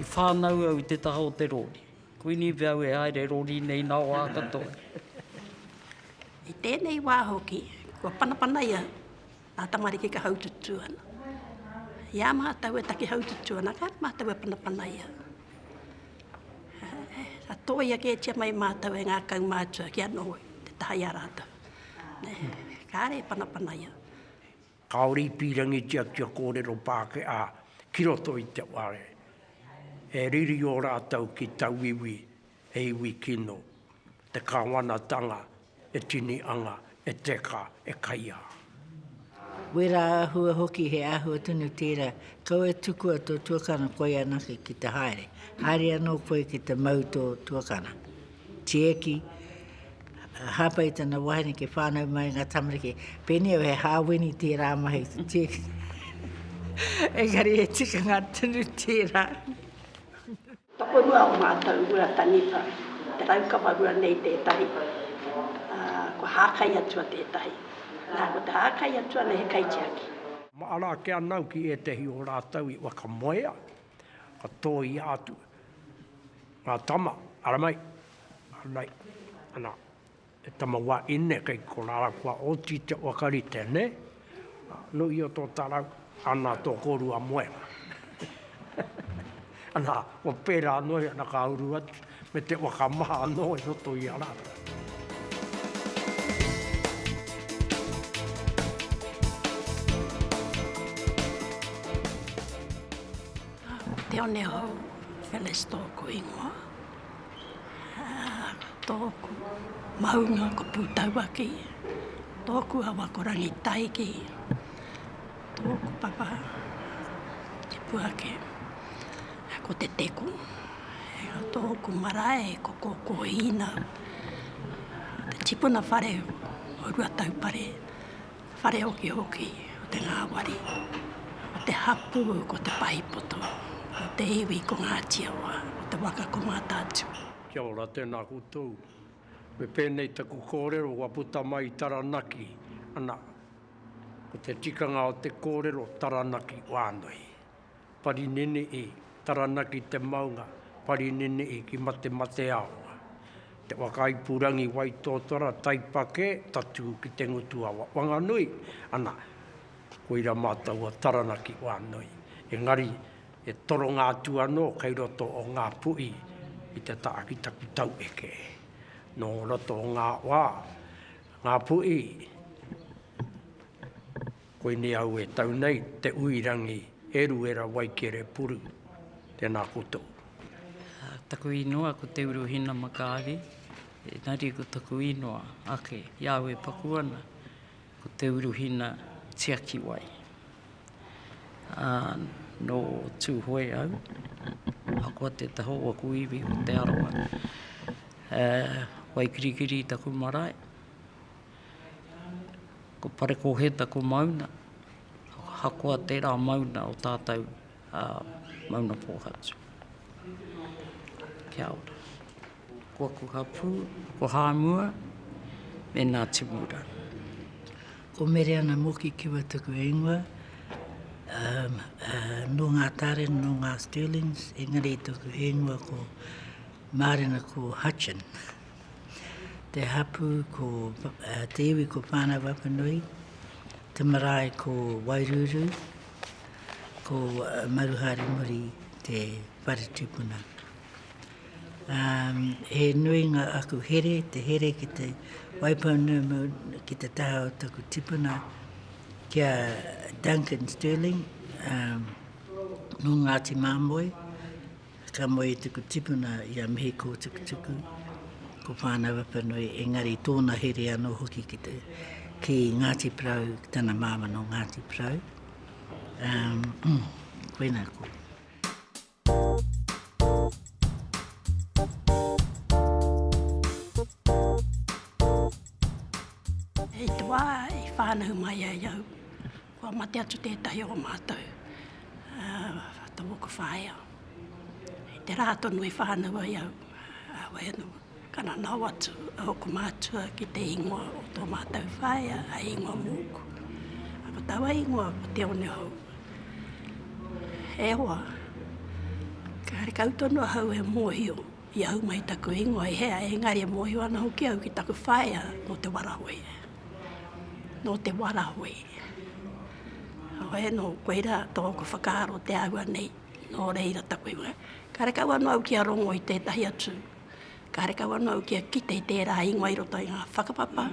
I whānau au i te taha o te rori. Kuinive au e haere rori nei nā wā katoa. I tēnei wā hoki, kua panapanaia ngā tamariki ka haututū ana. I a mātou e taki haututū ana, kāre mātou e panapanaia. Ka tōia kētia mai mātou e ngā kaumātua kia noho i te taha i a rātou. Kāre e panapanaia. Kāore i pīrangitia kia kōrero Pākehā ki roto i te whare. He riri ō rātou ki tauiwi, he iwi kino, te kāwanatanga e tini anga, e teka, e kaiā. Wērā āhua hoki, he āhua tonu tērā, kau e tukua tō tuakana koia anake ki te haere, haere anō koe ki te mau tō tuakana. Tieki, hāpai i tana wahine ki whānau mai i ngā tamariki, pēnei au he hāwini tērā mahi te tieki. Engari he tikanga tonu tērā. Tokorua o mātou rua taniwha, te raukawa rua nei tētahi, ā, kua hākai atu a tētahi. Nā, ko te hākai atu ana he kaitiaki. Māra ake anau ki ētahi o rātou i whakamoea, ka tōia atu. Ngā tama, ara mai, ara mai, ana, he tama wā ine kei ko rāra kua oti te waka rite, nē? No ia tō tarau, ana tō kōrua moenga. ana, kua pērā anō ia, ana ka uru atu, me te waka maha anō i roto i a rātou. Te Onehou Phyllis tōku ingoa. Tōku maunga ko Pūtauaki. Tōku awa ko Rangitaiki. Tōku papa te puake ko Te Teko. Tōku marae ko Kōkōhīna, te tipuna whare o Ruataupare. Whare hokihoki o te ngāwari, o te hapū ko Te Pahipoto, o te iwi ko Ngāti Awa, o te waka ko Mātaatua. Kia ora, tēnā koutou. Me pēnei taku kōrero kua puta mai i Taranaki, ana, ko te tikanga o te kōrero Taranaki wānui. Parinene'i, Taranaki te maunga, Parinene'i ki Matemateaonga. Te Whakaipurangi Waitōtara, Taipakē, tatū ki te ngutu awa Wanganui, ana, koira mātou o Taranaki wānui. Engari, he toronga atu anō kei roto o ngā puʻi i te taha ki taku taueke. Nō roto o ngā wā, ngā puʻi, Koinei au e tau nei te ui rangi Eruera Waikere Puru. Tēnā koutou. Taku inoa ko Te Uru Hinamakaari, engari ko taku inoa ake i a au e paku ana, ko Te Uru Hina Tiakiwai. Ā, nō Tūhoe au, ahakoa te taha o aku iwi ko Te Arawa. Waikirikiri taku marae. Ko Parekōheta ko Mauna, ahakoa tērā Mauna o tātou a Mauna Pōhatu. Kia ora. Ko aku hapū, ko Hāmua me Ngāti Mura. Ko Mereana Moki Kiwa taku ingoa, nō Ngā Taren, nō Ngā Stirlings, engari taku ingoa ko Mārena ko Hutchin. Te hapū ko te iwi ko Whānau-a-Wapanui, te marae ko Wairūrū, ko Maruhārimuri te whare tūpuna. Um, he nui ngā aku here, te here ki te waipounumu, ki te taha o taku tipuna, ki a Duncan Stirling, um, no Ngāti Māmoe, Ka moe i tuku tipuna i a Mihi Kōtukutuku, ko Whānau Apanui, engari tōna here anō hoki ki te, ki Ngāti Porou, ki tana māma nō Ngāti Porou. Um, koina ko. I te wā i whānahu mai ai au, Kua mate atu tētahi o mātou to moku whaea i te rā tonu i whānau ai au a Waeanuku. Ka nanao atu a Hoko mātua ki te ingoa o tō mātou whaea hei ingoa mūku. Ko taua ingoa ko Te Onehou. E hoa, karekau tonu ahau e mōhio. I a au mai taku ingoa i hea, engari e mōhio ana hoki au ki taku whaea nō Te Warahui. Nō Te Warahui. Oe nō koira tōku whakaaro te aua nei, nō reira taku ingoa. Kare kau anō au kia rongo i tētahi atu, kare kau anō au kia kite i tērā ingoa i roto i ngā whakapapa,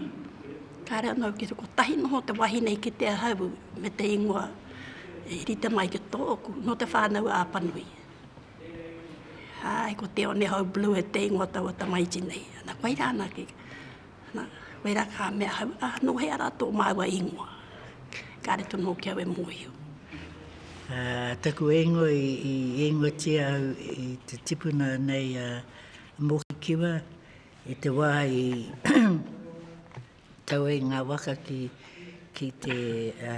kare anō au kia kotahi noho te wahine i kite ahau me te ingoa i rite mai ki tōku, nō Te Whānau-a-Apanui. Ae, ko Te Onehou Blue e te ingoa taua tamaiti nei. Ana, koe ra ana ke, ana, koe ra ka mea hau, a, no hea ra to maua ingoa? Kare tonu hoki au e mohio. A, taku ingoa i, i ingoatia au i te tipuna nei a Mokikiwa, i te wa i tau ai nga waka ki, ki te, a,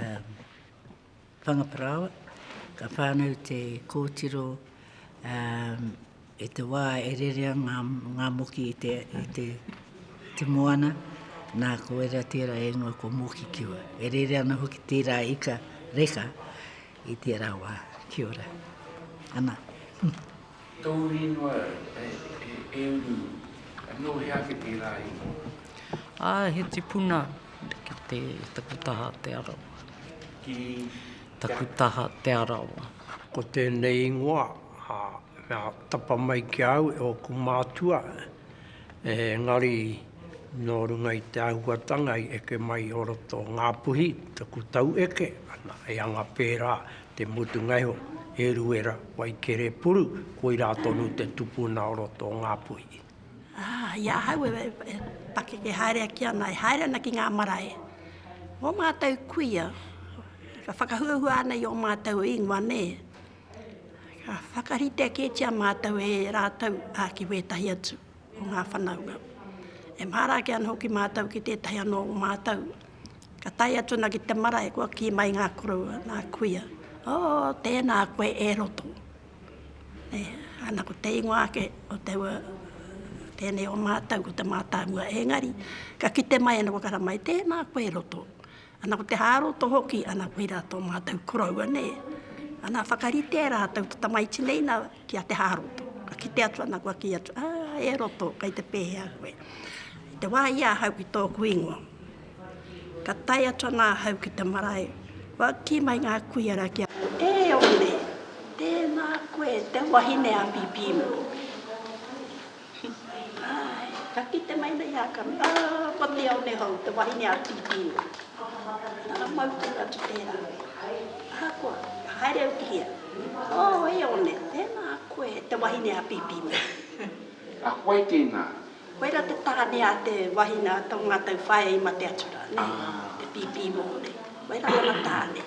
Whangaparāoa, ka whānau te kōtiro i te wā e rerea ngā moki i te moana, nā, ko ērā tērā e ingoa ko Moki Kiwa. E rere ana hoki tērā ika reka i tērā wā. Kia ora. Ana. Tōu ingoa e uru, nō hea ake tērā ingoa? Ā, he tipuna ki te Taku taha Te Arawa. Ki Taku taha Te Arawa. Ko tēnei ingoa, ā, mea tapa mai ki a au e ōku mātua, engari nō runga i te āhuatanga i eke mai o roto o Ngāpuhi taku taueke, ana, he anga pērā Te Mutungaiho, Eruera, Waikerepuru, koirā tonu te tupuna o roto o Ngāpuhi. Ā, i ahau e pakeke haere ake ana, e haere ana ki ngā marae, ō mātou kuia, ka whakahuahua ana i ō mātou ingoa, nē. Ka whakarite kētia mātou e rātou, ā, ki wētahi atu. o ngā whanaunga. E māra ake ana hoki mātou ki tētahi anō o mātou, ka tae atu ana ki te marae, kua kī mai ngā koroua, ngā kuia, Oh, tēnā koe e roto. E, ana ko te ingoa ake o te ua, tēnei o mātou ko te mātāmua, engari, ka kite mai ana kua kara mai, tēnā koe e roto. Ana ko te hāroto hoki, ana koirā tō mātou koroua, nē. Ana whakaritea rātou te tamaiti nei na kia te hāroto. Ka kite atu ana kua kī atu, ā, e roto, kei te pēhea koe. I te wā i ahau ki tōku ingoa, ka tae atu ana ahau ki te marae, kua kī mai ngā kuia rā ki a. E ore, tēnā koe te wahine a Pipīmoni. Āe, ka kite mai nei a Kami, ā, ko te one hou, te wahine a Tīpīro. Nana mau tonu atu tērā. Ahakoa, ka haere au ki hea? Ō, e one, tēnā koe, te wahine a Pīpīmana. A koe tēnā? Koirā te tāne a te wahine a tō ngātou whaea i mate atu rā, nē, te Pīpīmōne. Koirā tana tāne.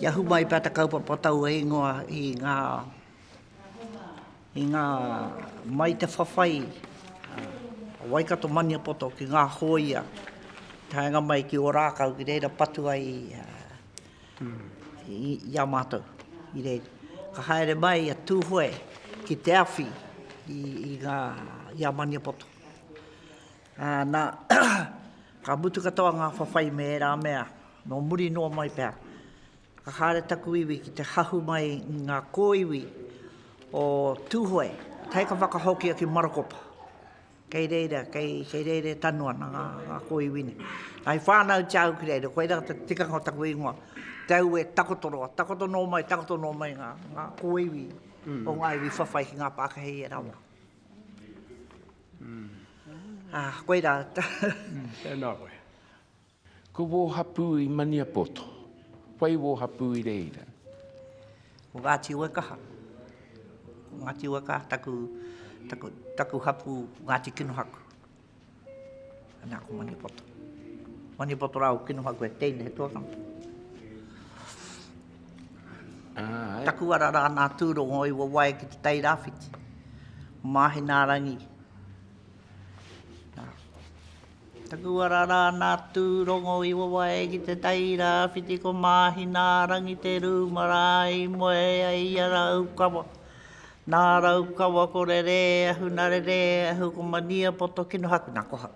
I ahu mai pea te kaupapa tau e ingoa i ngā, i ngā, mai te whawhai a Waikato Maniapoto ki ngā hōia taenga mai ki Ōrākau ki reira patu ai i a mātou. I reira, ka haere mai a Tūhoe ki te awhi i ngā, i a Maniapoto. Ā, nā, ka mutu katoa ngā whawhai me ērā mea, nō muri noa mai pea, ka haere taku iwi ki te hahu mai i ngā kōiwi o Tūhoe, tae ka whakahokia ki Marakopa. Kei reira, kei, kei reira e tanu ana ngā, ngā kōiwi nei. Nā, i whānautia au ki reira, koirā te tikanga o taku ingoa, te au e takoto roa, takoto noa mai, takoto noa mai ngā, ngā kōiwi o ngā iwi whawhai ki ngā Pākehā i ērā wā. Ā, koirā. Tēnā koe. Ko wō hapū i Maniapoto, whai wō hapū i reira? Ko Ngāti Uekaha. Ko Ngāti Uekaha taku, taku, taku hapū Ngāti Kinohaku. Ana ko Maniapoto. Maniapoto rā, kino ha koe, teine he tōtanga. Ah, Taku ara rā nā tūrongo i wawae ki te tai rāwhiti. Māhi nā rangi. Nā. Taku ara rā nā tūrongo i wawae ki te tai rāwhiti ko māhi nā rangi te rūmara i moe ai i ara ukawa. Nā Raukawa ko Rere, ahu nā Rere, ahu ko Mania, poto kino haku nā koha.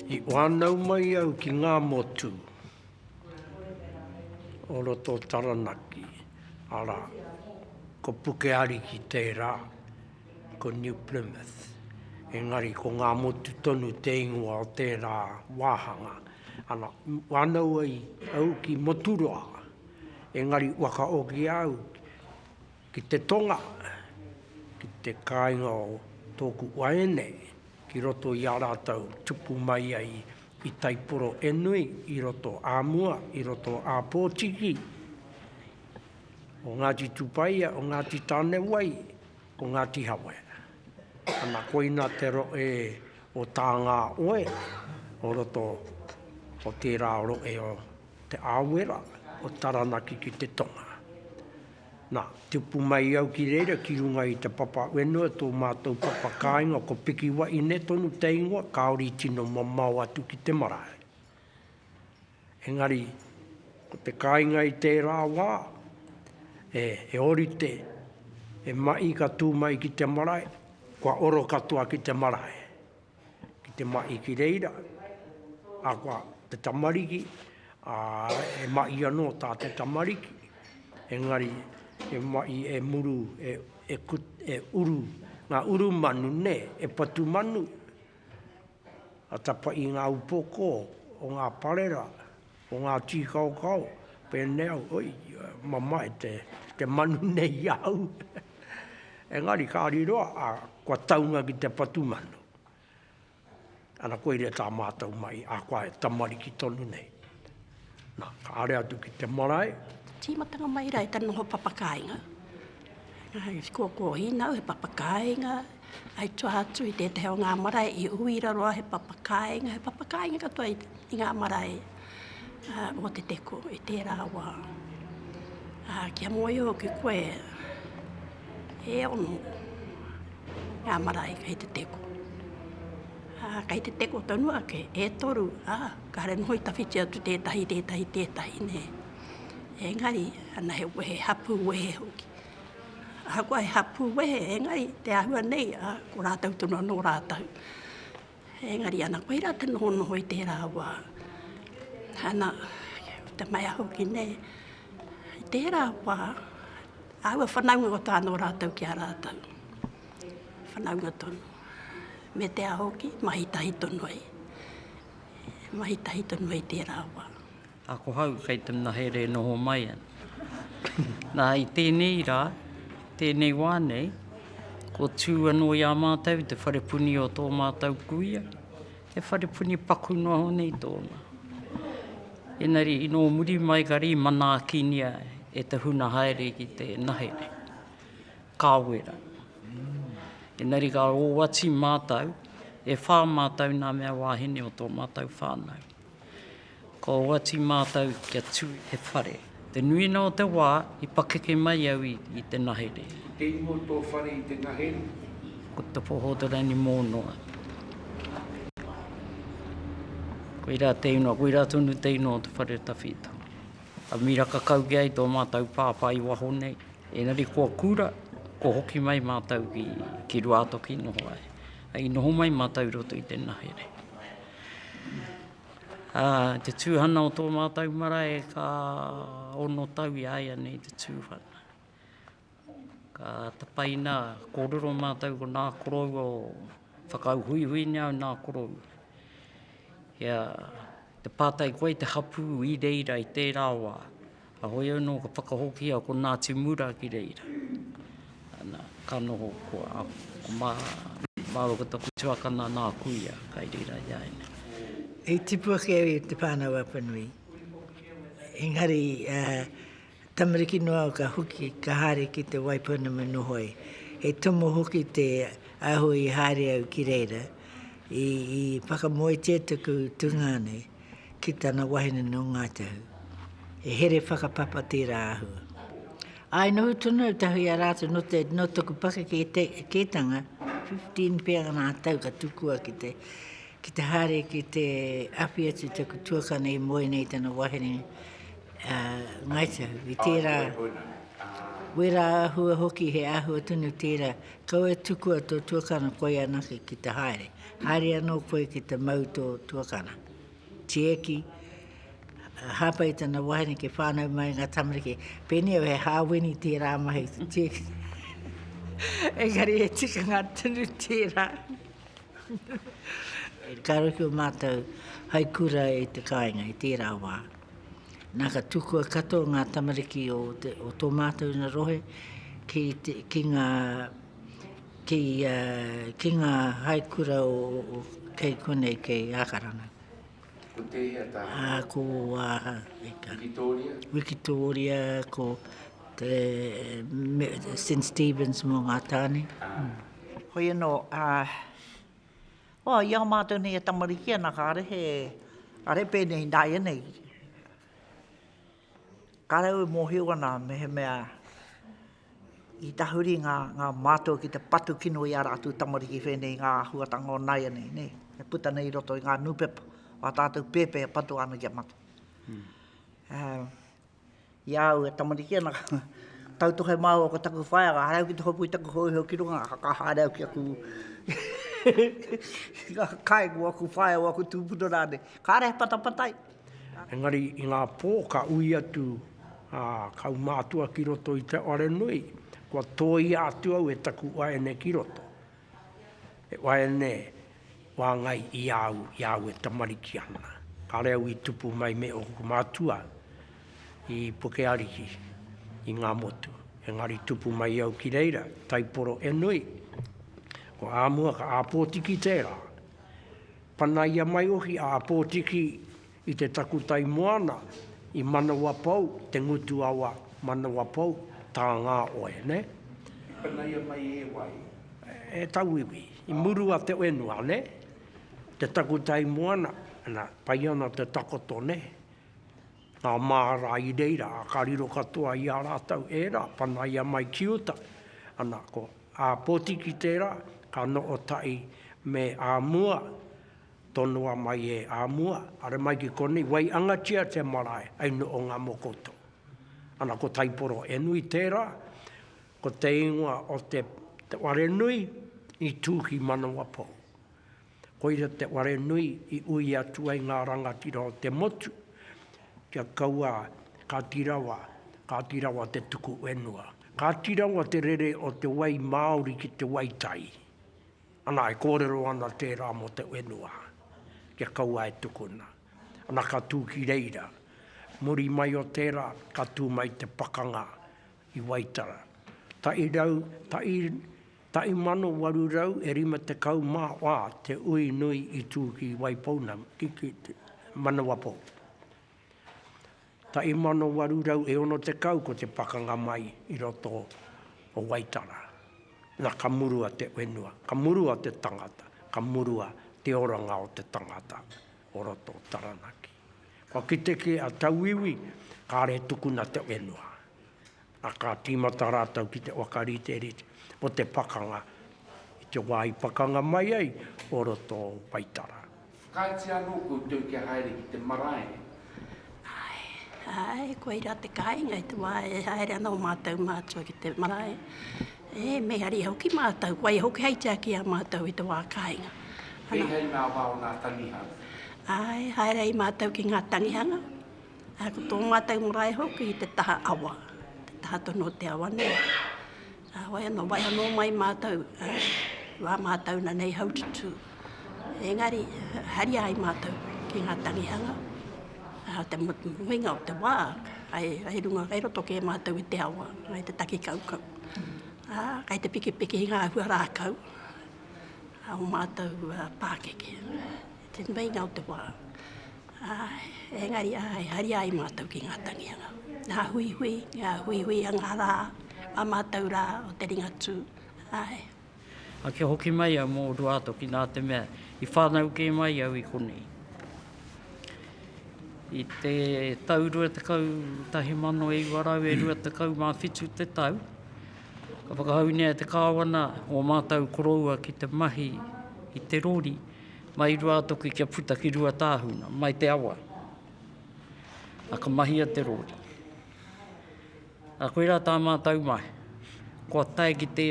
I whānau mai au ki ngā motu o roto o Taranaki, arā, ko Pukeariki tērā. Ko New Plymouth, engari ko ngā motu tonu te ingoa o tērā wāhanga. Ana, wānau ai au ki Moturoa, engari whakaoki au ki te tonga, ki te kāinga o tōku waeine, ki roto i a rātou tupu mai ai i Taiporoenui, i roto ā mua, i roto ā Pōtiki, o Ngāti Tupaia, o Ngāti Tānewai, Ko Ngāti Hawe. Ana koina te rohe o Tāngāoe, o roto o tērā rohe o Te Āwera, o Taranaki ki te tonga. Na, tupu mai au ki reira ki runga i te papa whenua, tō mātou papa kāinga ko Piki Wahine tonu te ingoa, kāore i tino mamao atu ki te marae. Engari, ko te kāinga i tērā wā, he ōrite, he maʻi ka tū mai ki te marae, kua oro katoa ki te marae, ki te maʻi ki reira, ahakoa te tamariki, he maʻi anō tā te tamariki, engari he maʻi e muru, e uru, ngā uru manu, nē, e patu manu. Ka tapa i ngā upoko o ngā parera, o ngā tīkaokao, pēnei au, oi, mamae te manu nei i a au. Engari ka riro a, kua taunga ki te patu manu. Ana koe rē tā mātou mai, ahakoa he tamariki tonu nei. Na, ka haere atu ki te marae. Tīmatanga mai rā i te noho papakāinga. He kōkōhinau, he papakāinga, hai toa atu i tētahi o ngā marae i uira roa he papakāinga, he papakāinga katoa i ngā marae o Te Teko i tērā wā. Kia mōhio hoki koe, e ono ngā marae kei Te Teko. Ā, kei te teko tonu ake, e toru, ā, kāre noho i tawhiti atu tētahi, tētahi, tētahi, nē. Engari, ana he wehe, hapū wehe hoki. Ahakoa he hapū wehe, engari, te āhua nei, ā, ko rātou tonu anō rātou. Engari, ana koe rā te nohonoho i tērā wā, ana, te mea hoki nei, i tērā wā, āua whanaunga o tāna o rātou ki a rātou. Whanaunga tonu. Me te aha hoki, mahi tahi tonu ai. Mahi tahi tonu ai tērā wā. Ako hau kei te mahere e noho mai ana. Nā, i tēnei rā, tēnei wā nei, kua tū anō i a mātou i te wharepuni o tō mātou kuia, he wharepuni paku noa ho nei tōna. Engari, i nō muri mai kari i manaakinia e te huna haere ki te mahere. Ka wera. Engari ka owati mātou, e whā mātou nā mea wāhine o tō mātou whānau. Ka owati mātou kia tū i te whare. Te nuinga o te wā i pakeke mai au i te ngahere. Ko te ingoa o tō whare i te ngahere? Ko Te Pohotorani Mōnoa. Koirā te ingoa, koirā tonu te ingoa o te whare o Tawhito. Ka miraka kau ki ai tō mātou pāpā i waho nei, engari kua kura, kua hoki mai mātou ki Ruātoki noho ai. I noho mai mātou i roto i te nahere. Ā, te tūhana o tō mātou marae ka ono tau i a ia nei te tūhana. Ka tapaina, kōrero mātou ko nā korou o whakauhuihui nei au nā korou. Kia te pātai koe te hapū i reira i tērā wā, ahoi anō ka whakahokia ko Ngāti Mura ki reira. Ana, ka noho ko a, ko mā, māua ko taku tuakana nā kuia kai reira i a ēnei. I tipu ake au i te Whānau Apanui, engari Tamariki noa ka hoki, ka haere ki te wai pounamu noho ai. He tomo hoki te aho i haere au ki reira, i, i whakamoetia taku tungāne ki tana wahine nō Ngāi Tahu. He here whakapapa tērā āhua. Ā, i noho tonu au tahi a rātou nō, te, nō taku pakeke te, kētanga, 15 pea ngā tau ka tukua ki te, ki te haere ki te awhi atu taku tuakana i moe nei tana wahine, a Ngai Tahu, i tērā wera āhua hoki, he āhua tonu tērā, kau e tukua tō tuakana koe anake ki te haere, haere anō koe ki te mau tō tuakana. Tieki, hāpai tana wahine ki whānau mai ngā tamariki, pēnei au he hāwini tērā mahi, tieki. Engari he tikanga tonu tērā. Kāore ki o mātou hai kura i te kāinga i tērā wā. Nā, ka tukua katoa ngā tamariki o, te, o tō mātou ina rohe ki, te, ki ngā ki, uh, ki ngā haikura o, o, kei konei, kei Ākarana. Ko tēhea tā? Ā, ko Wāha. Wikitōria? Wikitōria, ko te, me, St. Stephen's mō ngā tāne. Ā. Mm. Hoi anō, ā, Oh, i a mātou nei e tamariki ana, kāre he, kāre pēnei i nāianei. Kāre au e mōhio ana mehemea i tahuri ngā, ngā mātou ki te patu kino i a rātou tamariki whēnei i ngā āhuatanga o nāianei, ne? E puta nei i roto i ngā nūpepa, wā tātou pēpē e patua ana ki a mātou. Hmm. Uh, I a au e tamariki ana, tautohe māua ko taku whaea, ka haere au ki te hopu i taku hōiho ki runga, ka haere au ki aku kai ko aku whaea, ko aku tūpuna rānei. Kāre he patapatai. Engari i ngā pō ka ui atu a kaumātua ki roto i te wharenui, kua tōia atu au e taku waeine ki roto. He waeine. wāngai i a au, i a au e tamariki ana. Kāre au i tupu mai me ōku mātua i Pukeariki, i Ngāmotu. Engari tupu mai au ki reira, taiporo e nui. Ko āmua ka āpōtiki tērā. Panaia mai hoki a Āpōtiki I te takutai moana, i Manawapou, te ngutu awa, Manawapou, tā ngā oe, nē? I panaia mai e wai? E tauiwi, i muru a te whenua, nē? Te takutai moana, nā, pai ana te takoto, nē? Ngā māra i reira, ā, ka riro katoa i a rātou ērā, panaia mai ki uta. Ana, ko ā Potiki tērā, ka noho tahi me ā Mua, Tonoa mai e a mua, are mai ki konei, wai angatia te marae, ai no o nga mokoto. Ana ko Taiporo e nui tera, ko te ingoa o te ware nui i tu ki Manawapou. Koira te ware nui i ui atu ai nga rangatira o te motu, kia kaua Kati Rawa, Kati Rawa te tuku wenua. Kati Rawa te rere o te wai Maori ki te wai tai. Ana e kōrero ana tērā mō te whenua, kia kaua e tukuna. Ana ka tū ki reira. Muri mai o tērā, ka tū mai te pakanga i Waitara. Taʻi rau, taʻi, taʻi mano waru rau e rima tekau mā wā te ui nui i tū ki Waipounamu, ki, ki Manawapou. 1860 ko te pakanga mai i roto o Waitara. Na, ka murua te whenua, ka murua te tangata, ka murua te oranga o te tangata o roto o Taranaki. Kua kite ki a Tauiwi, kare tukuna te whenua. ā, ka tīmata rātou ki te whakariterite o te pakanga i te wā i pakanga mai ai o roto o Waitara. Whakaaetia anō koutou kia haere ki te marae? Āe, āe, koirā te kāinga i te wā e haere ana ō mātou mātua ki te marae. Ē, me haria hoki mātou, waiho kei tiaki ā mātou i te wā kāinga. Ana. Kei hei ngā wā o ngā tangihanga? Āe, haere ai mātou ki ngā tangihanga. Ko tō mātou marae hoki i te taha awa, te taha tonu o te awa nei. Ā, wai anō, wai anō mai mātou, ā, wā mātou na nei haututū. Engari, haria ai mātou ki ngā tangihanga, ā, te muinga o te wā, kai, kai runga, kai roto kē mātou i te awa, kai te taki kaukau. Ā, kai te pikipiki i ngā hua rākau, ā, o mātou pākeke. Te meinga o te wā. Āe, engari āe, haria ai mātou ki ngā tanianga, ngā huihui, ngā huihui a ngā rā, a mātou rā o te Ringatū, āe. Ā, kia hoki mai au mō Ruātoki nā te mea i whānau kē mai au i konei. I te tau rua tekau tahi mano e iwa rau e rua tekau mā whitu te tau, ka whakahaungia e te Kāwana ō mātou koroua ki te mahi i te rori, Mai Ruātoki kia puta ki Ruatāhuna, mai te awa. A ka mahia te rōri. A koirā tā mātou mahi. Kua tae ki te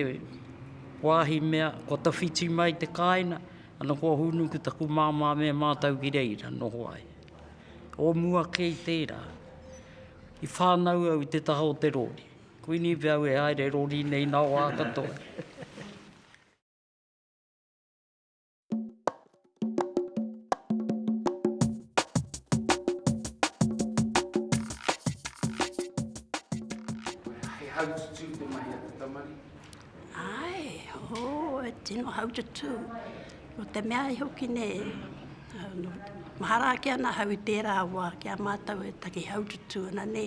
wāhi mea, kua tawhiti mai te kāina, ana kua hunu ki taku māmā me mātou ki reira, noho ai. O mua kei tērā, i whānau au i te taha o te rōri. Kuini pea au e haere rōri nei nā wā katoa. tū. No te mea i hoki ne, no, mahara ake ana hau i tērā wā ki a mātou e taki hau tutu ana ne.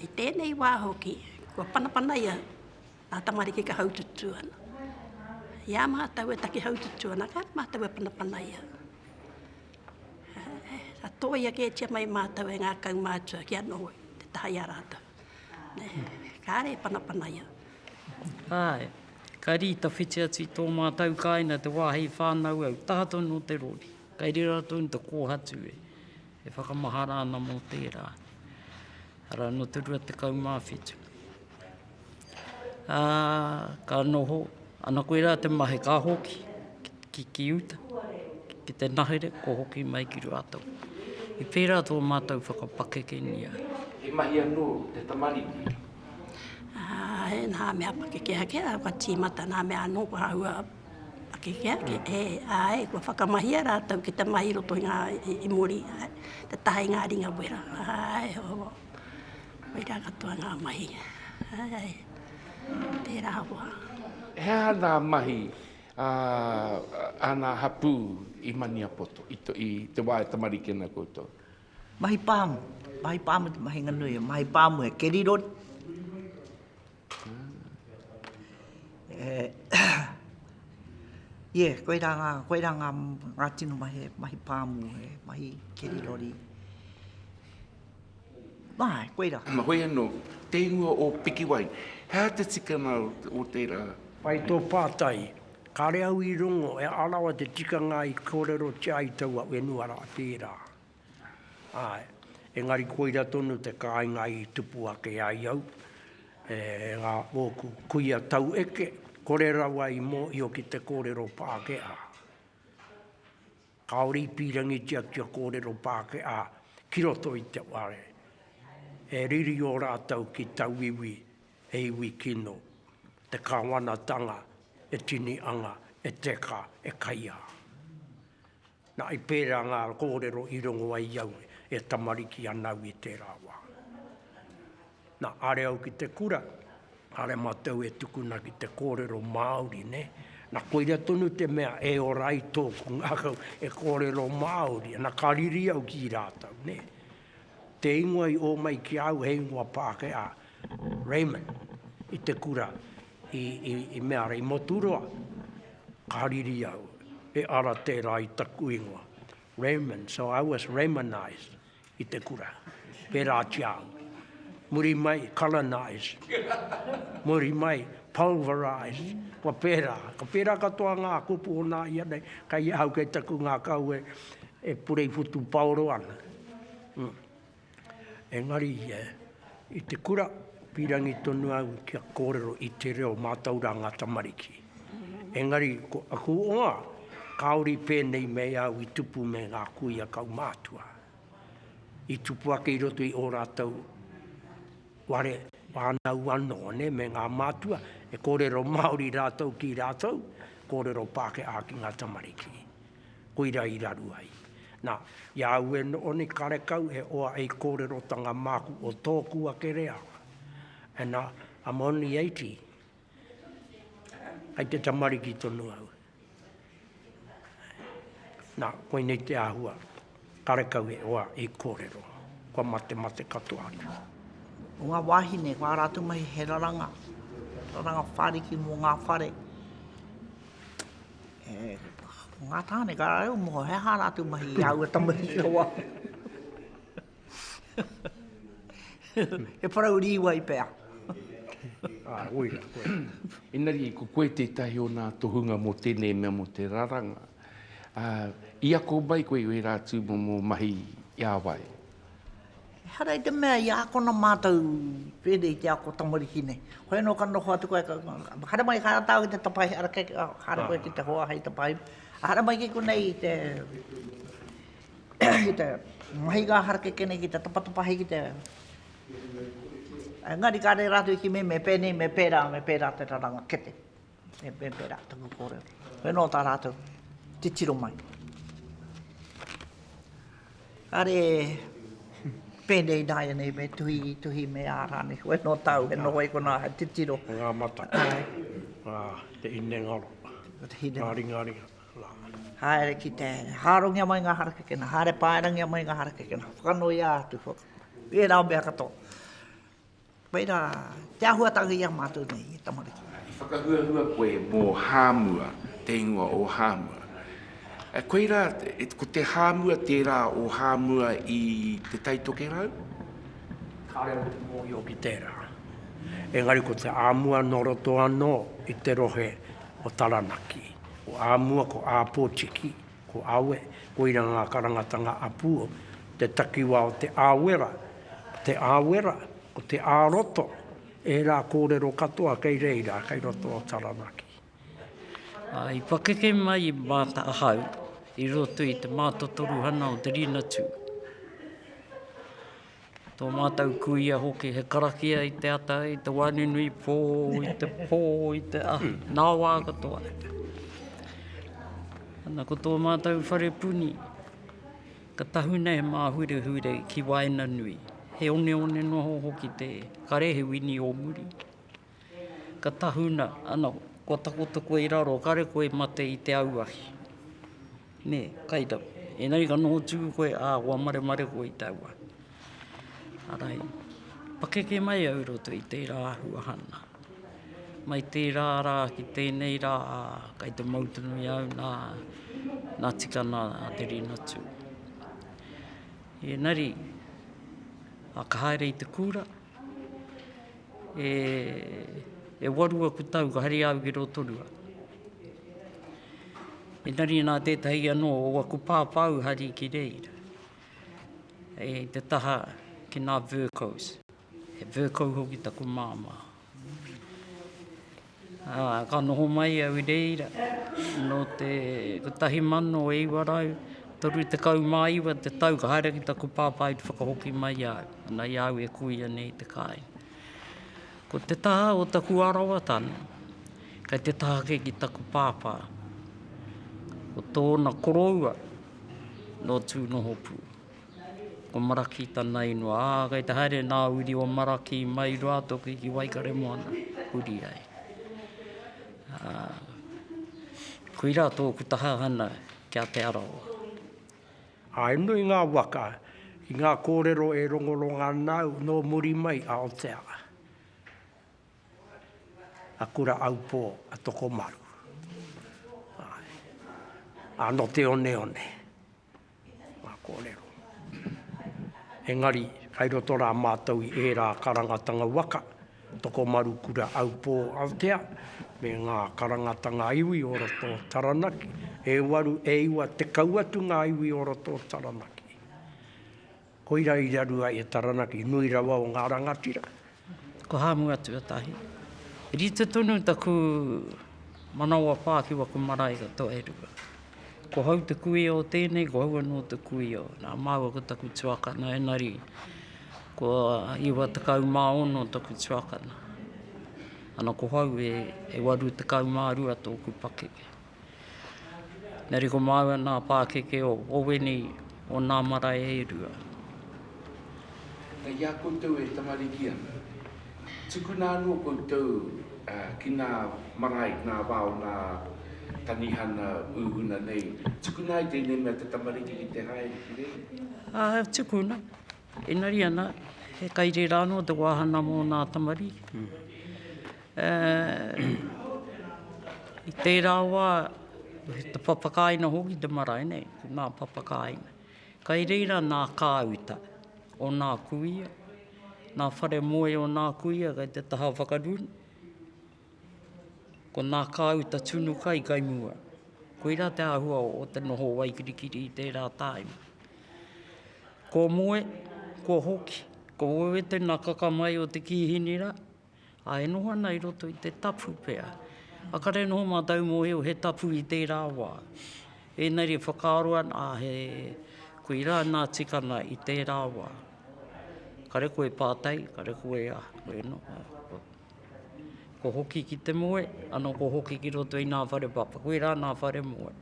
I tēnei wā hoki, kua panapanaia Ngā tamariki ka haututū ana. I a mātou e taki haututū ana, kāre mātou e panapanaia. Ka tōia kētia mai mātou e ngā kaumātua kia noho i te taha i a rātou. Kāre e panapanaia. Āe, ka rī tawhiti atu i tō mātou kāinga te wā hei whānau au, taha tonu o te rori. Kei reira tonu te kōhatu e. E whakamahara ana mō tērā. Arā, nō te 27. Ā, ka noho, ana koirā te mahi, ka hoki ki, ki uta, ki te nahere, kua hoki mai ki rātou. I pērā tō mātou whakapakekengia. He mahi anō te tamariki? Āe, nā mea pakeke ake rā, kua tīmata, nā mea anō kua hahua. Ake ki ake, e, āe, kua whakamahia rātou ki te mahi i roto i ngā, i, i muri, āe, te taha i ngā ringa wera, āe, o, koirā katoa ngā mahi, āe, tērā hoa. He aha ngā mahi a, a ngā hapū i Maniapoto, i, i te wā e tamariki ana koutou? Mahi pāmu, mahi pāmu te mahinga nui, mahi pāmu he kerirori. Ie, koirā ngā, koirā ngā, ngā tino mahi, he mahi pāmu, he mahi keri rori. Āe, koirā. Āna hoi anō, te ingoa o Pikiwai, he aha te tikanga o tērā? Pai tō pātai. Kāre au i rongo, he aha rawa te tikanga i kōrerotia ai taua whenua rā, tērā. Āe, engari koira tonu te kāinga i tupu ake ai au, e ngā ōku kuia taueke, kore rawa i mōhio ki te kōrero Pākehā. Kāore i pīrangitia kia kōrero Pākehā ki roto i te whare, e riri ō rātou ki tauiwi, he iwi kino, te Kāwanatanga e tini anga, e teka, e kaiā. Na, i pērā ngā kōrero i rongo ai i au e tamariki ana au i tērā wā. Na, are au ki te kura, are mātou e tukuna ki te kōrero Māori, nē. Na, koira tonu te mea e ora ai tōku ngākau e kōrero Māori ana, ka riri au ki rātou, nē. Te ingoa i ō mai ki a au he ingoa Pākehā. Raymond, i te kura i, i, i mea ara, i Moturoa. Ka riri au, e ara tērā i taku ingoa. Raymond, so I was Raymonized i te kura. Pērā ki a au. Muri mai, colonized. Muri mai, pulverized. Kua pērā, ka pērā katoa ngā kupu o nā ia nei, kei ahau kei taku ngākau e, e purei whutupaoro ana. Mm. Engari, i te kura, pīrangi tonu au kia kōrero i te reo mātou rā ngā tamariki. Engari, ko aku ōnga, kāore i pēnei me au i tupu me ngā kuia kaumātua. I tupu ake i roto i ō rātou whare whānau anō, nē, me ngā mātua, e kōrero Māori rātou ki rātou, kōrero Pākehā ki ngā tamariki. Koira i raru ai. Na, i a au e noho nei karekau he oa ei korerotanga maku o toku ake reanga. And I'm only eighty. Kai te tamariki tonu au. Na, koinei te ahua. Karekau e hoa, e korero. Kua mate mate katoa atu. O nga wahine, ko a ratou mahi he raranga, raranga whariki mo nga whare. Ko nga tane ka rarau mo he aha ratou mahi i aua tamahi rawa. He parau riwai pea. Ae, oira, oira. Engari, ko koe tetahi o na tohunga mo tenei mea mo te raranga. Ā, i ako mai koe i ērā tūmomo mahi i a wai? Ehara i te mea i ākona mātou pēnei i te ako tamariki nei. Hoi anō ka noho atu koe, haere mai ka āta au ki te tapaihi, ara kē, haere koe ki te hoa hei tapaihi. Haere mai ki konei i te i te mahi ngā harakeke nei ki te tapatapahi ki te... Engari ka reira atu i kimi me pēnei, me pērā, me pērā te raranga kete. E pērā taku kōrero. Koinā o tā rātou titiro mai. Kāre pēnei nāia nei me tuhi, tuhi me ārāne. Koe nō tāu, he noho i konā, he titiro. Ngā mata, ngā te ine ngaro, ngā ringa ringa. Haere ki te hārongia mai ngā harakekena, haere pāerangia mai ngā harakekena. Whakanoia atu, pērā mea katoa. Koe rā, te āhuatanga i a mātou nei, he tamariki. I whakahuahua koe mō Hāmua, te ingoa o Hāmua. Koe rā, ko te Hāmua tērā o Hāmua i Te Tai Tokerau? Kāre au te mōhio ki tērā. Engari ko te Āmua nō roto anō i te rohe o Taranaki. Ko Āmua, ko Āpōtiki, Ko Awe, koira ngā karangatanga a Puo, te takiwā o te Awera, ko te Awera, ko te Āroto, ērā kōrero katoa kei reira, kei roto o Taranaki. I pakeke mai māta ahau i roto i te mātotoruhana o te Ringatū. Tō mātou kuia hoki he karakia i te ata, i te wānunui pō, i te pō, i te ahu, nā wā katoa. Ana ko tō mātou whare puni, ka tahuna he māhurehure ki waenganui, he oneone noa hoki te kare, he wini o muri. Ka tahuna, ana, kua takoto koe i raro, kare koe mate i te auahi. Nē, kai rau. Engari ka noho tū koe, ā, kua maremare koe i te auahi. Arai, pakeke mai au i roto i tērā āhua hana. Mai tērā rā ki tēnei rā, ā, kai te mau tonu i a au nā, nā Tikana a Te Rinatū. Engari, ā, ka haere i te kūra, e e waru aku tau ka haere au ki Rotorua. Engari nā tētahi anō o aku pāpāu hari ki reira, i te taha ki nā Vercoes, he Vercoe hoki taku māmā. Ā, ka noho mai au i reira nō te 1939 te tau ka haere ki taku pāpā i te whakahoki mai i a au, ana i a au e kuia nei i te kāinga. Ko te taha o taku arawatana, kei te taha ake ki taku pāpā, ko tōna koroua nō Tūnohopū. Ko Maraki tana inua. Ā, kei te haere nā Uri o Maraki mai Ruatoki ki Waikaremoana, huri ai. Ā, koirā tōku tahahana ki a Te Arawa. Ā, he nui ngā waka i ngā kōrero e rongoronga ana au nō muri mai, Aotearoa, a Kura Aupō, a Tokomaru, āe, ā, nō te oneone. Ngā kōrero. Engari, kai roto rā mātou i ērā karangatanga waka, Tokomaru Kura Aupō Aotea, me ngā karangatanga iwi o roto o Taranaki, e waru, e iwa, tekau atu ngā iwi o roto o Taranaki. Koira i raru ai he taranaki nui rawa o nga rangatira. Ko Hamua tuatahi. Rite tonu taku manawa wha ki waku marae ko Toerua. Ko hau te kuia o tenei, ko hau ano te kuia o na. Maua ko taku tuakana enari ko iwa tekau ma ono taku tuakana. Ano ko hau e waru tekau ma rua toku pakeke. Nā reira ko māua nā pākeke o Owini, o nā marae e rua. Ina i a koutou e tamariki ana, tukuna anō koutou ki nā marae, ki nā wā o nā tanihana uhuna nei, tukuna ai tēnei mea te tamariki ki te haere ki reira? Āe, tukuna. Engari ana, he kai reira anō te wāhanga mō nā tamariki. I tērā wā, te papakāina hoki te marae nei, nā papakāina. Kai reira nā kāuta o nā kuia, nā whare moe o nā kuia kai te taha whakarūnga. Ko nā kāuta tunu kai kai mua. Koirā te āhua o te noho o Waikirikiri i tērā tāima. Kua moe, kua hoki, kua wewete nā kakamai o te kīhini rā, ā, e noho ana i roto i te tapu pea. A kare noho mātou mōhio he tapu i tērā wā. Engari e whakaaro ana, ā, he, koirā nā tikanga i tērā wā. Kare koe pātai, kare koe aha, koe noho. Ko hoki ki te moe, ano ko hoki ki roto i nga whare papa. Koe ra nga whare moe.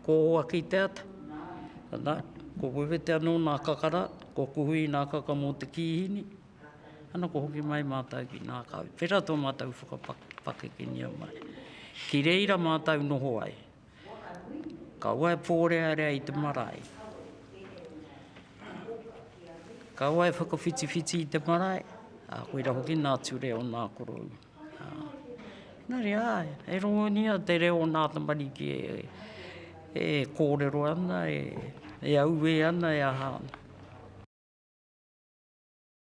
Ko Owaki te ata, ana, ko Wewete ano nga kakara, ko Kuhui nga kaka mo te kihini, ano ko hoki mai matou ki nga kau. Tera to matou whakapakeke ni a mai. Ki reira matou noho ai. Kaua e pōrearea i te marae. Kaua e whakawhitiwhiti i te marae, ā, koira hoki nā ture o nā koroua. Ā, engari, ā, e rongonia te reo o nā tamariki e, e kōrero ana, e, e auē ana, e aha ana.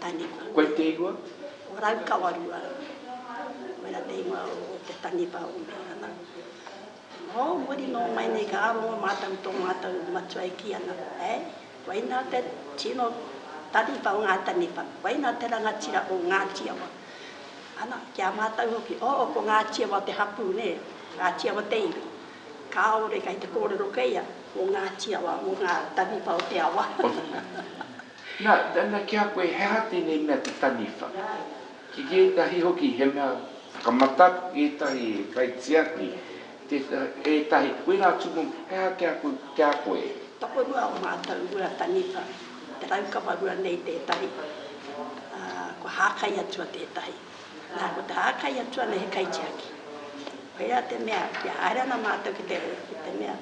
Taniwha. Koe te ingoa? Ko Raukawarua. Koira te ingoa o te taniwha o Mehorana. Nō muri nō mai nei ka rongo mātou i tō mātou matua e kī ana, ē, koinā te tino taniwha o ngā taniwha, koinā te rangatira o Ngāti Awa. Ana, ki a mātou hoki, oo, ko Ngāti Awa te hapū, nē, Ngāti Awa te iwi. Kāore kei te kōrero kē ia, ko Ngāti Awa mō ngā taniwha o te awa. Na, na ki a koe, he aha tenei mea te taniwha? Ki etahi hoki he mea whakamataku, ki etahi he kaitiaki, tetahi, etahi, koira atu momo, he aha ki a koe, ki a koe? Tokorua o matou rua taniwha, te raukawa rua nei tetahi, a, kua hakai atu a tetahi. Nā, ko tā Kai atu ana he kaitiaki. Koirā te mea, kia haere ana mātou ki te, ki te mea,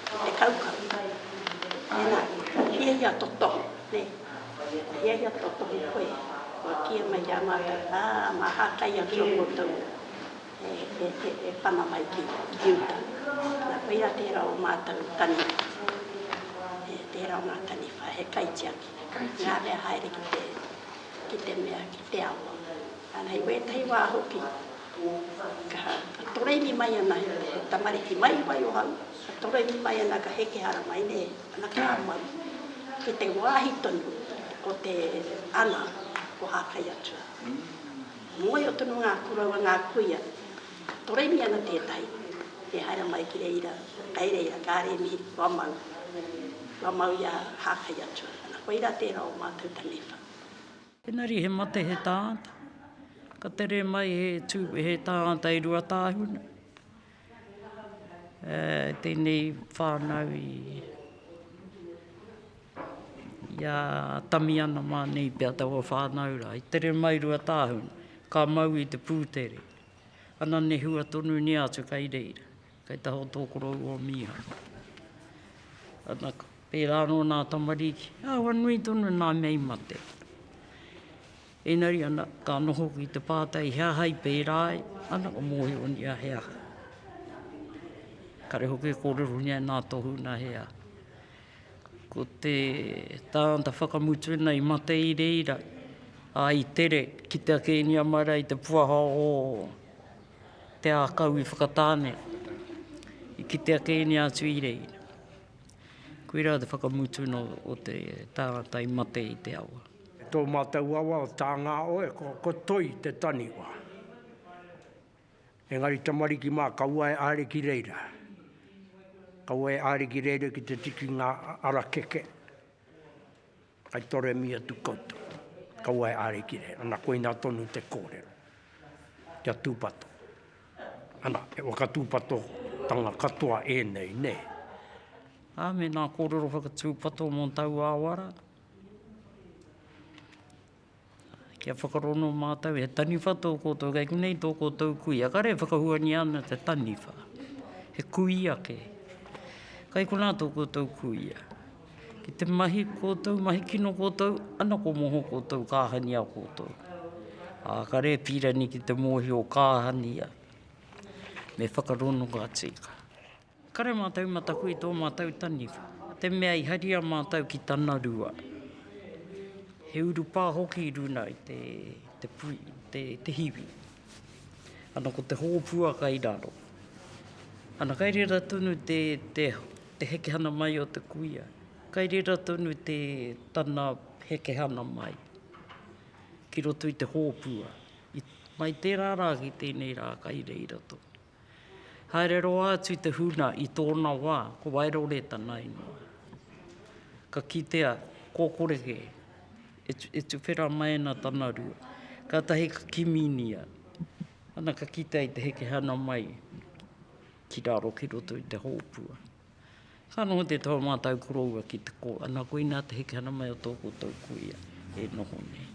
ki te kaukau, mēnā kua hiahia tō tohu, nē, kua hiahia tō tohu koe, kua kīia mai ki a mātou, ā, mā hākai atu ō koutou e, e, e, e pana mai ki, ki uta. Nā, koirā tērā o mātou taniwha. E, tērā o ngā taniwha, he kaitiaki. He kaitiaki. Ngā mea haere ki te. ki te mea, ki te awa. Ana i wētahi wā hoki, ka toroiwi mai ana he tamariki mai wai o hau, ka toroiwi mai ana ka heke hara mai nei, ana ka mau, ki te wāhi tonu o te ana o Hākai Atua. Mōhio tonu ngā koroua, ngā kuia, Toremi ana tētahi e haere mai ki reira, kei reira, kāre e mihi, kua mau, kua mau i a Hākai Atua, ana koirā tērā o mātou taniwha. Engari he mate he tāngata, ka tere mai he tū, he tāngata i Ruatāhuna, e, tēnei whānau i, i a Tamiana mā nei pea taua whānau rā, i tere mai Ruatāhuna, ka mau i te pūtere. Ana nehua tonu nia atu kai reira, kai taho tō korou o Mīhana. Ana, pērā anō nā tamariki, āhua nui tonu nā mea i mate. Ēnari ana, ka noho ki te pātai he aha i pērā ai, ana ka mōhio nia he aha. Kare hoki e kōrero nia e nā tohu na he aha. Ko te tāngata whakamutu ena i mate i reira, a i tere ki te ake inia marae i te puaha o te akau i Whakatāne, i kite ake inia atu i reira. Koira te whakamutu no o te tāngata i mate i te awa. Tō mātou awa o Tāngāoe, ko Toi te taniwha. Engari tamariki mā, kaua e āre ki reira. Kaua e āre ki reira ki te tiki ngā ara keke. Kai toremi atu koutou. Kaua e āre ki reira. Ana, koina tonu te kōrero. Kia tūpato. Ana, he whakatūpatotanga katoa ēnei, nē? Ā, mēnā kōrero whakatūpato mō taua awara. Kia whakarongo mātou, he taniwha tō koutou, kei konei tō koutou kuia. Kāre e whakahuania ana te taniwha, he kui ake. Kai konā tō koutou kuia. Ki te mahi koutou, mahi kino koutou, ana ko moho koutou, kāhania koutou. Ā, kāre e pīrani ki te mōhio kāhania, me whakarongo a Tika. Kare mātou mataku i tō mātou taniwha, te mea i haria mātou ki tana rua. He urupā hoki i runa i te, te pui, te, te hiwi. Ana ko te hōpua kai raro. Ana kai rera tonu te, te, te hekehana mai o te kuia. Kai rera tonu te, tana hekehana mai ki roto i te hōpua. I, mai tērā rā ki tēnei rā kai reira tonu. Haere roa atu te huna i tōna wā, ko Wairore tana ingoa. Ka kitea, kōkoreke, e, e tuwhera mai ana tana rua. Kātahi ka kiminia, ana ka kitea i te hekehana mai ki raro ki roto i te hōpua. Ka noho te toa mātau koroua ki te kōa, nā koinā te heke ana mai o tō koutou kuia e noho nei.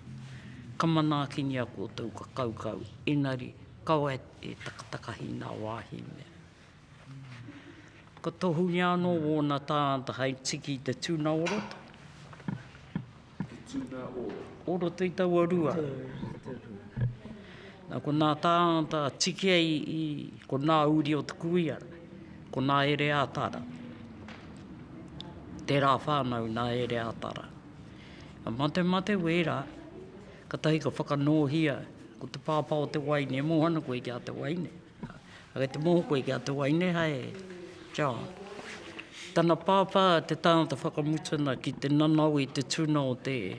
Ka manaakini a koutou, ka kaukau, engari, kaua e takatakahi nā wāhi mea. Ka tohungia anō wōna tāngata hai tiki i te tuna o roto. He tū mea ora. Ora tei taua rua. Na ko nā tāngata tiki ai i ko nā uri o te kuiara, ko nā Ereatara. Tērā whānau nā Ereatara. Ka mate mate wērā, katahi ka whakanōhia ko te pāpā o te waine, e moana koe ki a te waine. Kei te moho koe ki a te wai nei hae John. Tana pāpā te tāngata whakamutuna ki te nanao i te tuna o te e.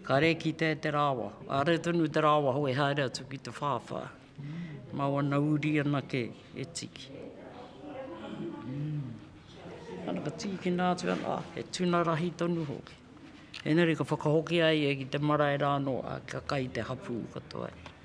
Ka re kitea e te rāwa, a re tonu te rāwa hou e haere atu ki te whāwhā. Mā wana uri anake e tiki. Ana ka tīkina atu ana, ah, he tuna rahi tonu hoki. Engari ka whakahokia ia ki te marae rānō, ah, kia kai te hapū katoa.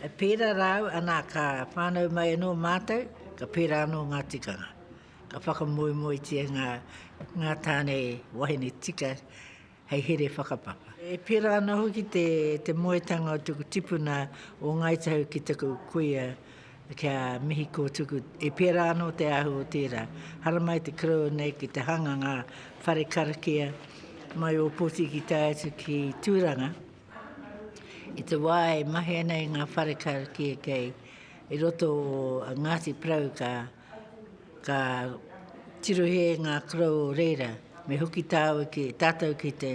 E pērā rā au, anā, ka whānau mai anō mātou, ka pērā anō ngā tikanga. Ka whakamoemoetia ngā, ngā tāne wahine tika hei here whakapapa. E pērā ana hoki te, te moetanga o tuku tipuna o Ngāi Tahu ki taku kuia kia mihi kōtuku. E pērā anō te ahu o tērā. Haramai te koroua nei ki te hanganga whare karakia mai Ōpoti ki tae atu ki Tūranga. I te wā e mahi ana i ngā whareka kēkei i roto o Ngāti Porou ka, ka tirohē ngā korou o reira. Me hoki tāu ki, tātou ki te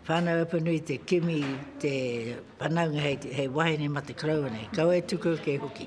Whānau Apanui te kimi te whanaunga hei, hei wahine mate koroua nei. Kaua e tuku ake hoki.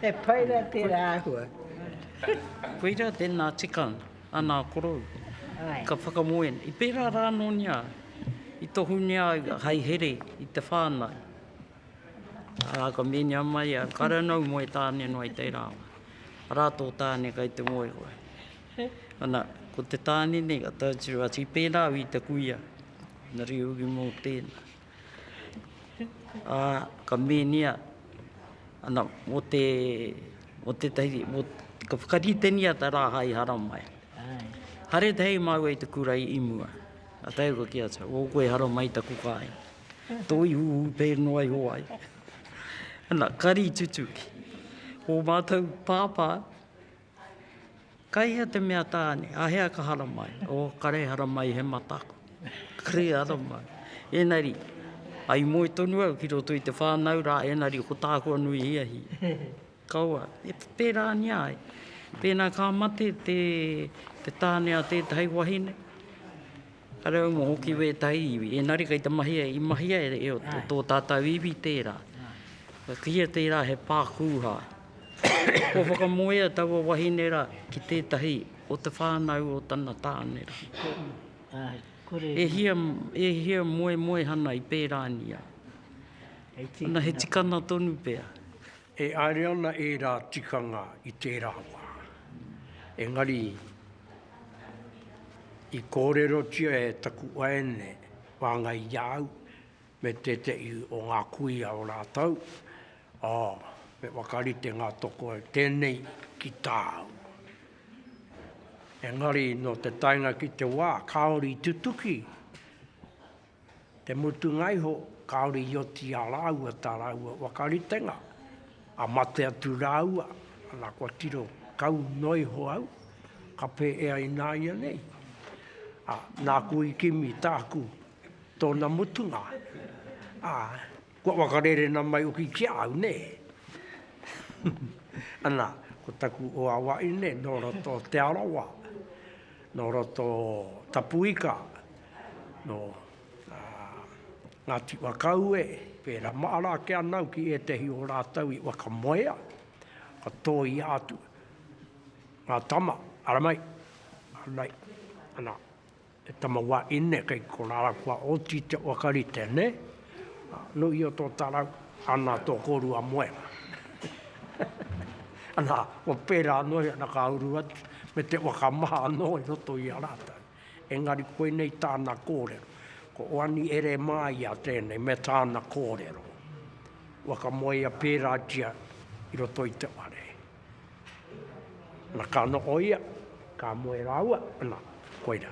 He pai ra tera ahua. Koira tena tika ana korou. Ka whakamoe, i pera ra nonia i tohungia ai hai here i te whanau. Ara ka menia mai a Karanau moe tane noa i tera wa. Ara to tane kai te moe koe. Ana, ko te tane nei ka tau tira, i pera au i te kuia. Na riu ki mo tena. Ā, ka mēnia, ana, mō te, mō tētahi, mō, ka whakaritengia te rā hai haramai. Haere te hei māua i te kura i mua. Ā, tae koa ki a Charles, o koe haramai taku kāinga. Tō ihu hūpē noa iho ai. Ana, kari tutuki. Ko mātou pāpā, Ka hea te mea tāne, a hea ka haramai? Oh, ka rei haramai he mata aku. Ka rei haramai. Enari, i moe tonu au ki roto i te whānau rā, enari ko tāku anō i hiahia. Kaua, e pērā ni ai. Pēnā ka mate te tāne a tētahi wahine, Ka rau mo hoki wētahi iwi, ēnari kei te mahi ai, i mahi ai e o tō tātau iwi tērā. Ka kīia tērā he pā kūha. Kua whakamoea taua wahine rā ki tētahi o te whānau o tana tāne rā. E hia, e hia moemoehana i pērānia. Ana he tikana tonu pea. E haere ana ērā tikanga i tērā wā, engari i kōrerotia e taku waeine whāngai i a au me tētehi o ngā kuia o rātou, ā, me whakarite ngā toko e tēnei ki tāu. Engari nō te taenga ki te wā kāore i tutuki. Te mutunga iho, kāore i oti i a rāua tā rāua waka ritenga, a mate atu rāua, ana kua tiro kau noa iho au, ka pē e ai nāia nei. Ā, nāku i kimi tāku, tōna mutunga. Ā. Kua whakarērena mai hoki ki a au, nē. Ana, ko taku hoa wahine nō roto o Te Arawa, nō roto o Tapuika, nō Ngāti Whakaue, pērā mahara ake ana au ki ētehi o rātou i whakamoea, ka tōia atu ngā tama, ara mai, ara mai, ana. He tama wa ine kei ko ralau kua oti te wa karite ne? No ia to tarau ana to korua moenga. Ana ko pera ano ia na ka uru atu me te wa ka maha ano i roto ia rata. Engari koinei tana korero. Ko oani ere ma ia tene me tana korero. Wa ka moe ia pera tia i roto i te ware. Na ka noho ia, ka moe raua, na, koira.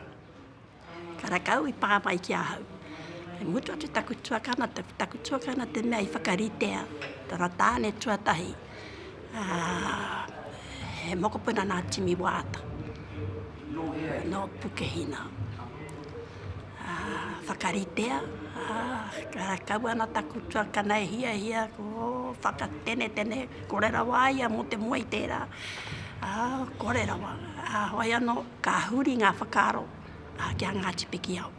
Karakau i pa mai ki ahau. I mutu atu taku tuakana, taku tuakana te mea i whakaritea tana tane tuatahi, he mokopuna na Timi Waata, no Pukehina. Whakaritea, kaua ana taku tuakana e hiahia ko whakatenetene, kore rawa a ia mō te moe i tērā, kore rawa. Heoi anō, ka huri ngā whakaaro ki a Ngāti Pikiao.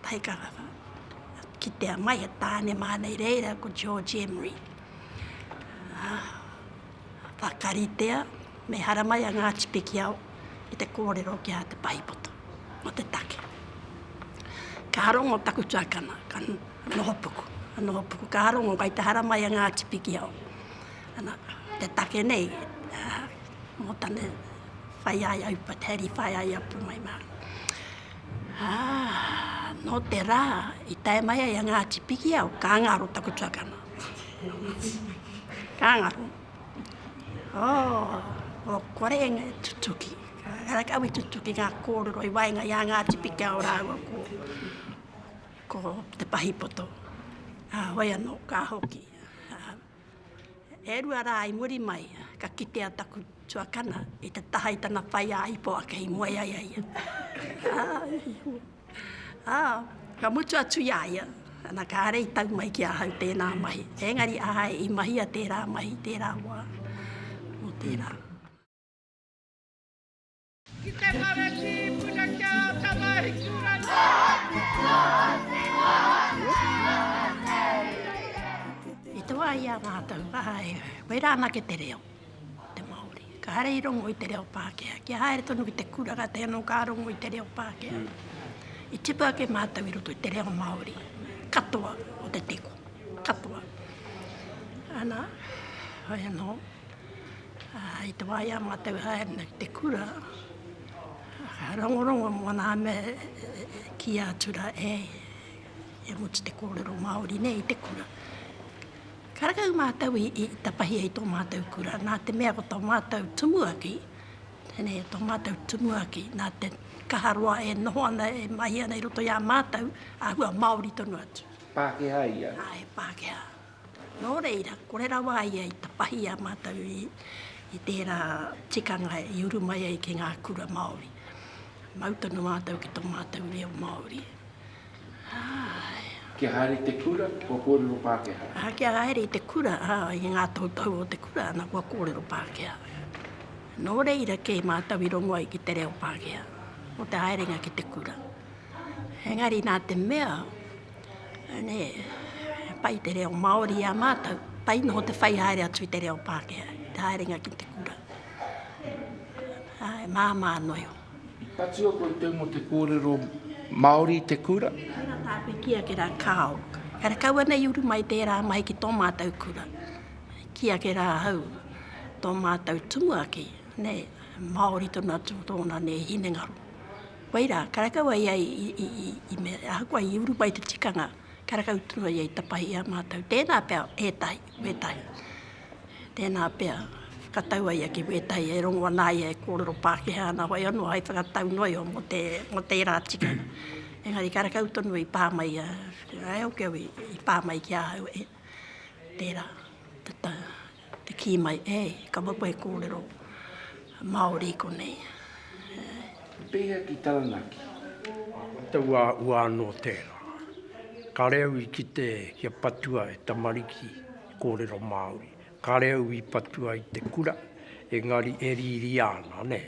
Kātahi ka kitea mai he tāne māna i reira ko George Emery. Whakaritea me haramai a Ngāti Pikiao i te kōrero ki a Te Paipoto mō te take. Ka rongo taku tuakana, ka nohopuku, ka nohopuku, ka rongo kai te haramai a Ngāti Pikiao. Ana, te take nei, mō tane whai ai au pat, heri whai ai a pumai mā. Nō te rā, i tae mai ai a Ngāti Pikiao, ka ngaro taku tuakana. Kāngaro. Oh, o kore e ngā tutuki. Kāra ka awi tutuki ngā kōrero i waenga i a ngā tipika o rāua ko, ko te pahipoto. Uh, hoi anō, ka hoki. Uh, e rua rā i muri mai, ka kitea taku tuakana i te taha i tana whai a ipo ake i moe ai ai. Ā, ka mutu atu i a ia, ana, kāre i tau mai ki ahau tēnā mahi. Engari āe i mahia tērā mahi i tērā wā, nō tērā. Ki te Maratī i puna ki a Ātamahitūrangi. I te wā i a mātou, āe, koirā anake te reo. te Māori. Ka haere i rongo i te reo Pākehā. Kia haere tonu ki te kura ka taea anō ka rongo i te reo Pākehā. I tipu ake mātou i roto i te reo Māori katoa o te teko. Katoa. Ana, hoi anō, i te wā i a mātou haere nei ki te kura, ka rongorongo mō nā mea e kīia atu rā e mutu te kōrero Māori nei i te kura. Karekau mātou i tapahi ai tō mātou kura, nā te mea ko tō mātou tumuaki, tēnei e tō mātou tumuaki, nā te kaha roa e noho ana, e mahi ana i roto i a mātou, āhua Māori tonu atu. Pākehā ia? Āe, Pākehā. Nō reira, kore rawa a ia i tapahi i a mātou i tērā tikanga i uru mai ai ki ngā kura Māori. Mau tonu mātou ki tō mātou reo Māori. Āe. Kia haere i te kura, kua kōrero Pākehā. Ā, kia haere i te kura, ā, i ngā toutou o te kura, ana, kua kōrero Pākehā. Nō reira kē mātou i rongo ai ki te reo Pākehā, mō te haerenga ki te kura. Engari nā te mea, nē, he pai te reo Māori i a mātou, pai noho te whai haere atu i te reo Pākehā, te haerenga ki te kura. Āe, māmā noa iho. Ka tua koe tau mo te korero Maori i te kura? Kei ra tāku ki ake ra Kao. Kare kaua nei uru mai tērā mai ki tō mātou kura. Ki ake rā ahau, tō mātou tumuaki, nē, Māori tonu atu tōna nē hinengaro. Wai rā, karekau ai ia i mea, ahakoa i uru mai te tikanga, karekau tonu ai ia i tapahi i a mātou. Tēnā pea, ētahi, wētahi. Tēnā pea, ka tau a ia ki wētahi e rongo ana ai e kōrero Pākehā ana wai anō hai whakatau noio mō te, mō tērā tikanga. Engari karekau tonu i pā mai a Rael Kew i, i pā mai ki ahau e, tērā, te ta, te kī mai, e, ka wapu e kōrero Māori i konei. E. Pēhea ki Taranaki? Taua ua anō tērā. Ka reo i kite kia patua e tamariki. Kōrero Māori. Kāre au i patua i te kura, engari e rīria ana, nē.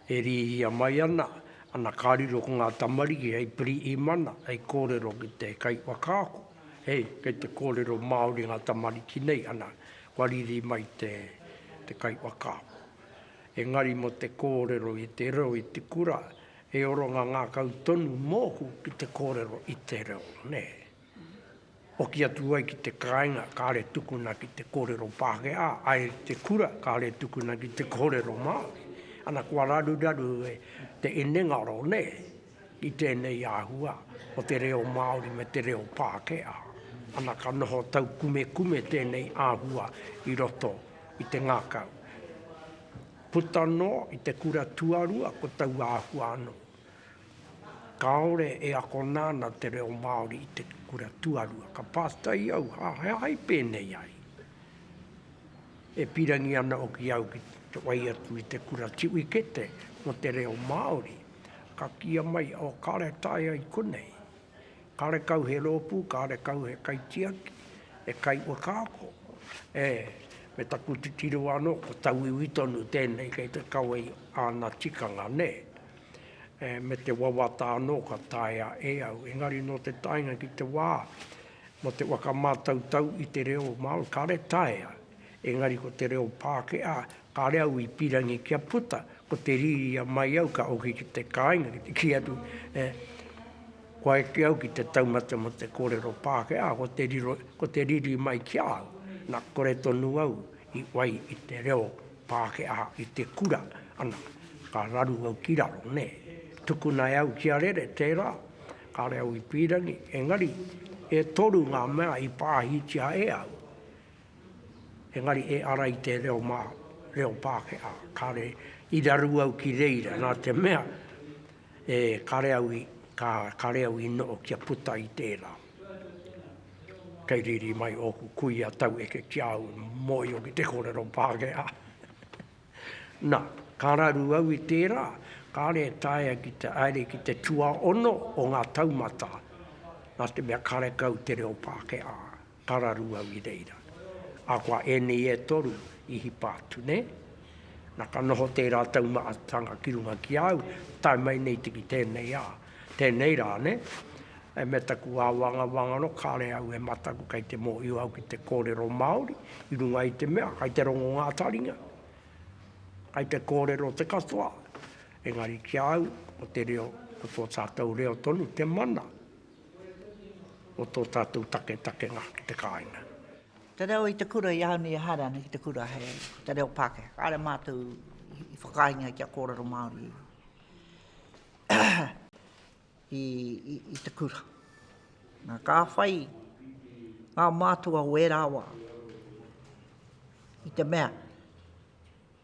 E rīria mai ana, ana ka riro ko ngā tamariki hei piriī mana, hei kōrero ki te kaiwhakaako, hei, kei te kōrero Māori ngā tamariki nei, ana, kua riri mai te, te kaiwhakaako. Engari mō te kōrero i te reo i te kura, he orongā ngākau tonu mōku ki te kōrero i te reo, nē. Hoki atu ai ki te kāinga, kāre tukuna ki te kōrero Pākehā, ai ki te kura, kāre tukuna ki te kōrero Māori. Ana, kua raruraru e te inengaro nei i tēnei āhua o te reo Māori me te reo Pākehā. Ana, ka noho taukumekume tēnei āhua i roto i te ngākau. Puta noa i te kura tuarua ko taua āhua anō. Kāore e akona ana te reo Māori i te kura tuarua. Ka pātai au, hāhai pēnei ai? E pīrangi ana hoki au ki te whai atu i te kura tiwikete mō te reo Māori, ka kīa mai, oh, kāore e taea i konei. Kāre kau he rōpū, kāre kau he kaitiaki, he kaiwhakaako, ē, me taku titiro anō, ko tauiwi tonu tēnei kei te kawe i āna tikanga, nē? Ē, me te wawata anō ka taea e au, engari nō te taenga ki te wā, nō te whakamātautau i te reo Māori, kāre taea Engari ko te reo Pākehā, kāre au i pīrangi kia puta, ko te riri a mai au ka hoki ki te kāinga, ki te kī atu, e, kua eke au ki te taumata mō te kōrero Pākehā, ko te riro, ko te riri mai ki a au, na, kore tonu au i whai i te reo Pākehā i te kura, ana, ka raru au ki raro, nē. Tukuna e au kia rere, tērā, kāre au i pīrangi, engari, e toru ngā mea i pāhitia e au. Engari e ara i te reo mā, reo Pākehā, kāre i raru au ki reira, nā te mea, e, kāre au i, ka, kāre au i noho kia puta i tērā. Kei riri mai ōku kuia taueke ki a au, mōhio ki te kōrero Pākehā. Nā, ka raru au i tērā, kāre e taea ki te haere ki te tuaono o ngā taumata, nā te mea karekau te reo Pākehā. Tararū au i reira. Ahakoa ēnei e toru i hipa atu, nē? Na ka noho tērā taumahatanga ki runga ki a au, tae mai nei te ki tēnei a, tēnei rā, nē? E me taku āwangawanga anō, kāre au e mataku kei te mōhio au ki te kōrero Māori i runga i te mea kei te rongo ngā taringa, kei te kōrero te katoa. Engari ki a au, ko te reo, ko tō tātou reo tonu te mana. o tō tātou taketakenga ki te kāinga. Te reo i te kura i ahau nei e haere ana ki te kura he ko te reo Pākehā. Kāre mātou i whakaaengia kia kōrero Māori i te kura. Nā, ka whai ngā mātua o ērā wā i te mea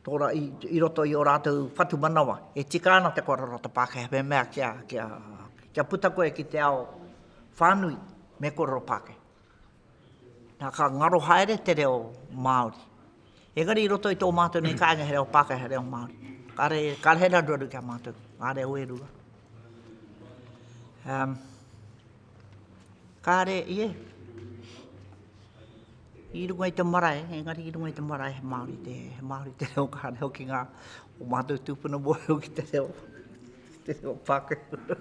i roto i ō rātou whatumanawa, e tika ana te kōrero o te Pākehā me mea kia, kia, kia puta koe ki te ao whānui, me kōrero Pākehā. Nā, ka ngaro haere te reo Māori. Engari i roto i tō mātou nei kāinga he reo Pākehā, he reo Māori. Kāre, kāre he raruaru ki a mātou, ngā reo e rua. Um. Kāre ia i runga i te marae, engari i runga i te marae he Māori te, he Māori te reo kāre hoki ngā o mātou tūpuna mōhio ki te reo, te reo Pākehā.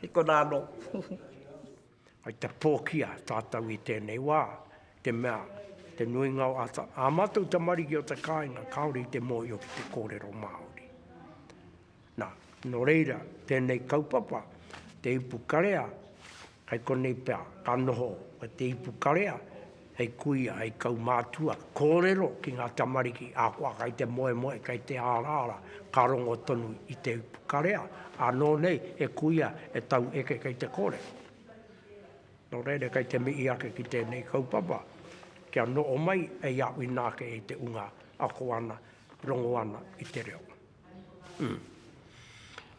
He kona anō. Hai te pōkia tātou i tēnei wā, te mea, te nuinga o ata, ā mātou tamariki o te kāinga kāore i te mōhio ki te kōrero Māori. Nā, nō reira, tēnei kaupapa, te ipukarea, kai konei pea ka noho te ipukarea hei kuia, hei kaumātua, kōrero ki ngā tamariki ahakoa kai te moemoe, kai te araara, ka rongo tonu i te ipukarea, ānō nei he kuia e tau eke kei te kōrero. Nō reira, kai te mihi ake ki tēnei kaupapa, kia noho mai hei āwhina ake i te unga ako ana, rongo ana i te reo. Ū.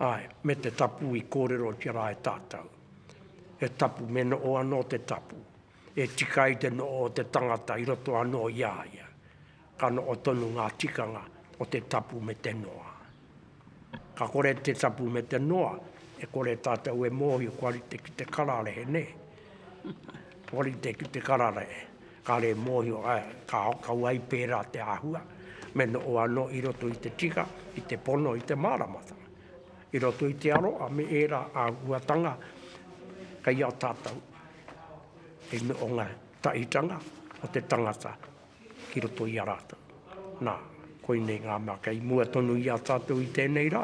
Āe, me te tapu i kōrerotia rā e tātou. He tapu, me noʻo anō te tapu, e tika ai te noʻo o te tangata i roto anō i a ia. Ka noʻo tonu ngā tikanga o te tapu me te noa. Ka kore te tapu me te noa, e kore tātou e mōhio kua rite ki te kararehe, nē? Hori te ki te karare, kare mōhio ai, ka kau ai pērā te āhua, me noho anō i roto i te tika, i te pono, i te māramatanga. I roto i te aroha me ērā āhuatanga kei a tātou hei nohonga tahitanga o te tangata ki roto i a rātou. Nā, koinei ngā mea kei mua tonu i a tātou i tēnei rā.